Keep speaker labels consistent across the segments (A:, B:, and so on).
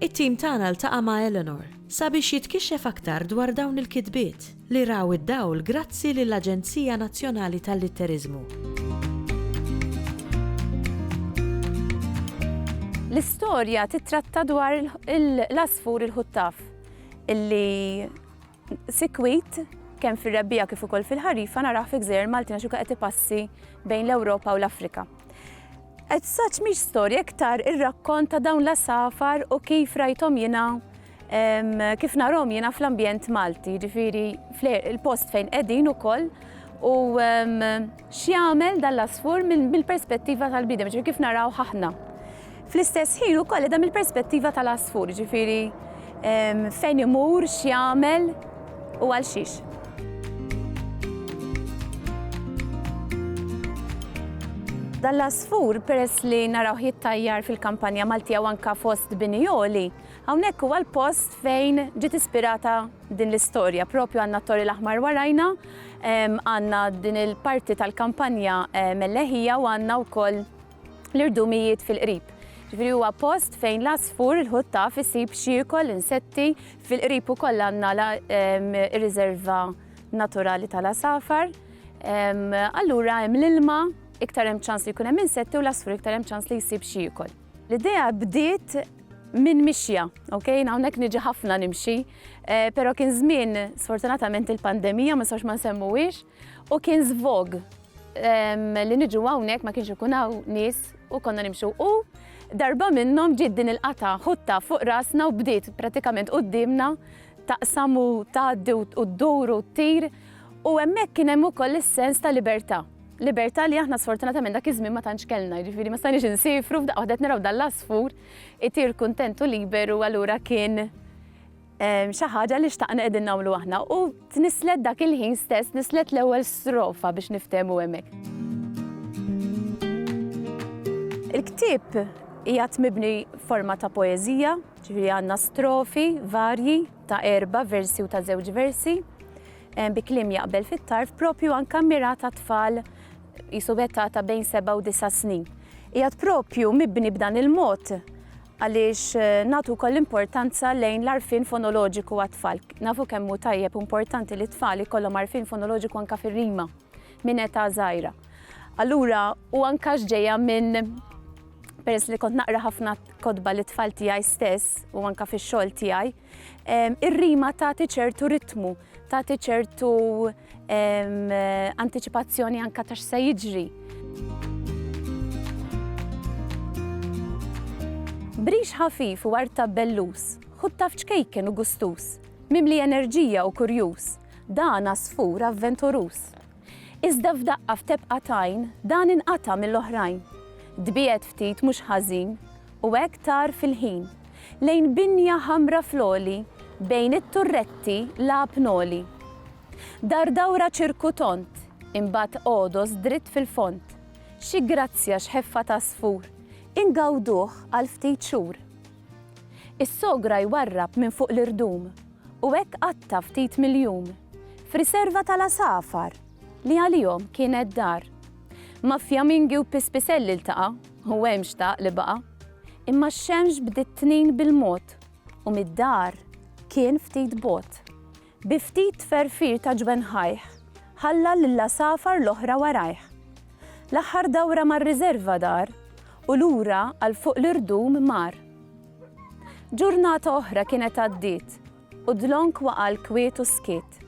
A: It-tim tagħna ltaqa' ma' Eleanor sabiex jitkixxef aktar dwar dawn il-kitbiet, li raw id-dawl grazzi lill-Aġenzija Nazzjonali tal-Litteriżmu. L-istorja tittratta dwar l-għasfur il-ħuttaf li Sikwit, kemm fir-rebbiegħa kif ukoll fil-ħarifa narah fi gżejjer Maltin għax ukoll qed ipassi bejn l-Ewropa u l-Afrika. Qed saċ mhix storja iktar ir-rakkont ta' dawn l-għasafar u kif rajthom jiena kif narhom jiena fl-ambjent Malti, ġifieri il-post fejn qegħdin ukoll u X'jagħmel dan l-għasfur mill-perspettiva tal-bniedem, jiġifieri kif narawh aħna. Fl-istess ħin ukoll qiegħda mill-perspettiva tal-għasfur, jiġifieri fejn imur, x'jagħmel u għal xiex. Dan l-għasfur peress li narawh jittajjar fil-kampanja Maltija u anke fost bini għoli, hawnhekk huwa l-post fejn ġiet ispirata din l-istorja propju għandna t-Tori l-Aħmar warajna, għandna din il-parti tal-kampanja Melleħija u għandna wkoll l-irdumijiet fil-qrib. Ġifieri huwa post fejn l-għasfur il-ħuttaf isib xiekol insetti fil-qrib ukoll għandna ir-riserva naturali tal-għasafar. Allura hemm l-ilma, iktar hemm ċans li jkun hemm insetti u l-għasfur iktar hemm ċans li jsib xiekol. L-idea bdiet minn mixja, ok? Jien hawnhekk niġi ħafna nimxi, eh, però kien żmien sfortunatament il-pandemija ma nistgħux ma nsemmuhiex u kien żvog li niġu hawnhekk ma kienx ikun hawn nies u konna nimxu u darba minnhom ġiet din il-qata ħutta fuq rasna u bdiet pratikament quddiemna taqsam u tgħaddi u ddur u ttir U hemmhekk kien hemm ukoll is-sens ta' libertà. Libertà li aħna sfortunatament dak iż-żmien ma tantx kellna, jiġifieri ma stajniex insiefru, f'daqqa waħda qed naraw dan l-għasfur itir kuntent u liberu allura kien xi ħaġa li xtaqna qegħdin nagħmlu aħna. U tnisslet dak il-ħin stess, tnisslet l-ewwel strofa biex niftehmu hemmhekk. Il-ktieb qiegħed mibni forma ta' poeżija, ġifieri għandna strofi varji, ta' erba' versi u ta' żewġ versi, bi kliem jaqbel fit-tarf propju anke mmirat għat-tfal qisu b'età ta' bejn seba' u disa' snin. Qiegħed propju mibni b'dan il-mod għaliex nagħtu wkoll importanza lejn l-għarfien fonoloġiku għat-tfal. Nafu kemm hu tajjeb u importanti li t-tfal ikollhom għarfien fonoloġiku anke fir-rima minn età żgħira. Allura, u anke għax ġejja minn peress li kont naqra ħafna kotba li tfal tiegħi stess u anka fix-xogħol tiegħi, ir-rima tagħti ċertu ritmu, tagħti ċertu anticipazzjoni anka ta' x'se jiġri. Brix ħafif u art ta' bellus, ħudd taf ċkejken u gustus, mimli enerġija u kurjuż, dan għasfur avventuruż. Iżda f'daqqa f'tebqa t'għajn dan inqata' mill-oħrajn. Tbiegħed ftit mhux ħażin u hekk tar fil-ħin lejn binja ħamra fl-għoli bejn it-turretti lgħab ngħoli. Dar dawra ċirku tond, imbagħad għodos dritt fil-fond. Xi grazzja x'ħeffa t'għasfur, ingawduh għal ftit xhur. Is-sogra jwarrab minn fuq l-irdum u hekk qatta' ftit miljun f'riserva tal-għasafar li għalihom kienet dar. Ma' fjamingi u pispiselli ltaqa' u hemm xtaq li baqa'. Imma x-xemx bdiet tnin bil-mod u mid-dar kien ftit bogħod. Bi ftit tferfir ta' ġwenħajh, ħalla lill-għasafar l-oħra warajh. L-aħħar dawra mar-riżerva dar u lura għal fuq l-irdum mar. Ġurnata oħra kienet għaddiet u Dlonk waqa' l-kwiet u skiet.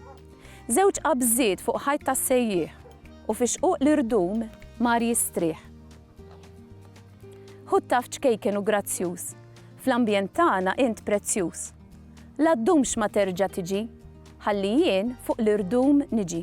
A: Żewġ qabżiet fuq ħajt tas-sejjieħ u fi xquq l-irdum mar jistrieħ. Hu t-taff ċkejken u grazzjuż. Fl-ambjent tagħna int prezzjuż. La ddumx ma terġa' tiġi. Ħalli jien fuq l-irdum niġi.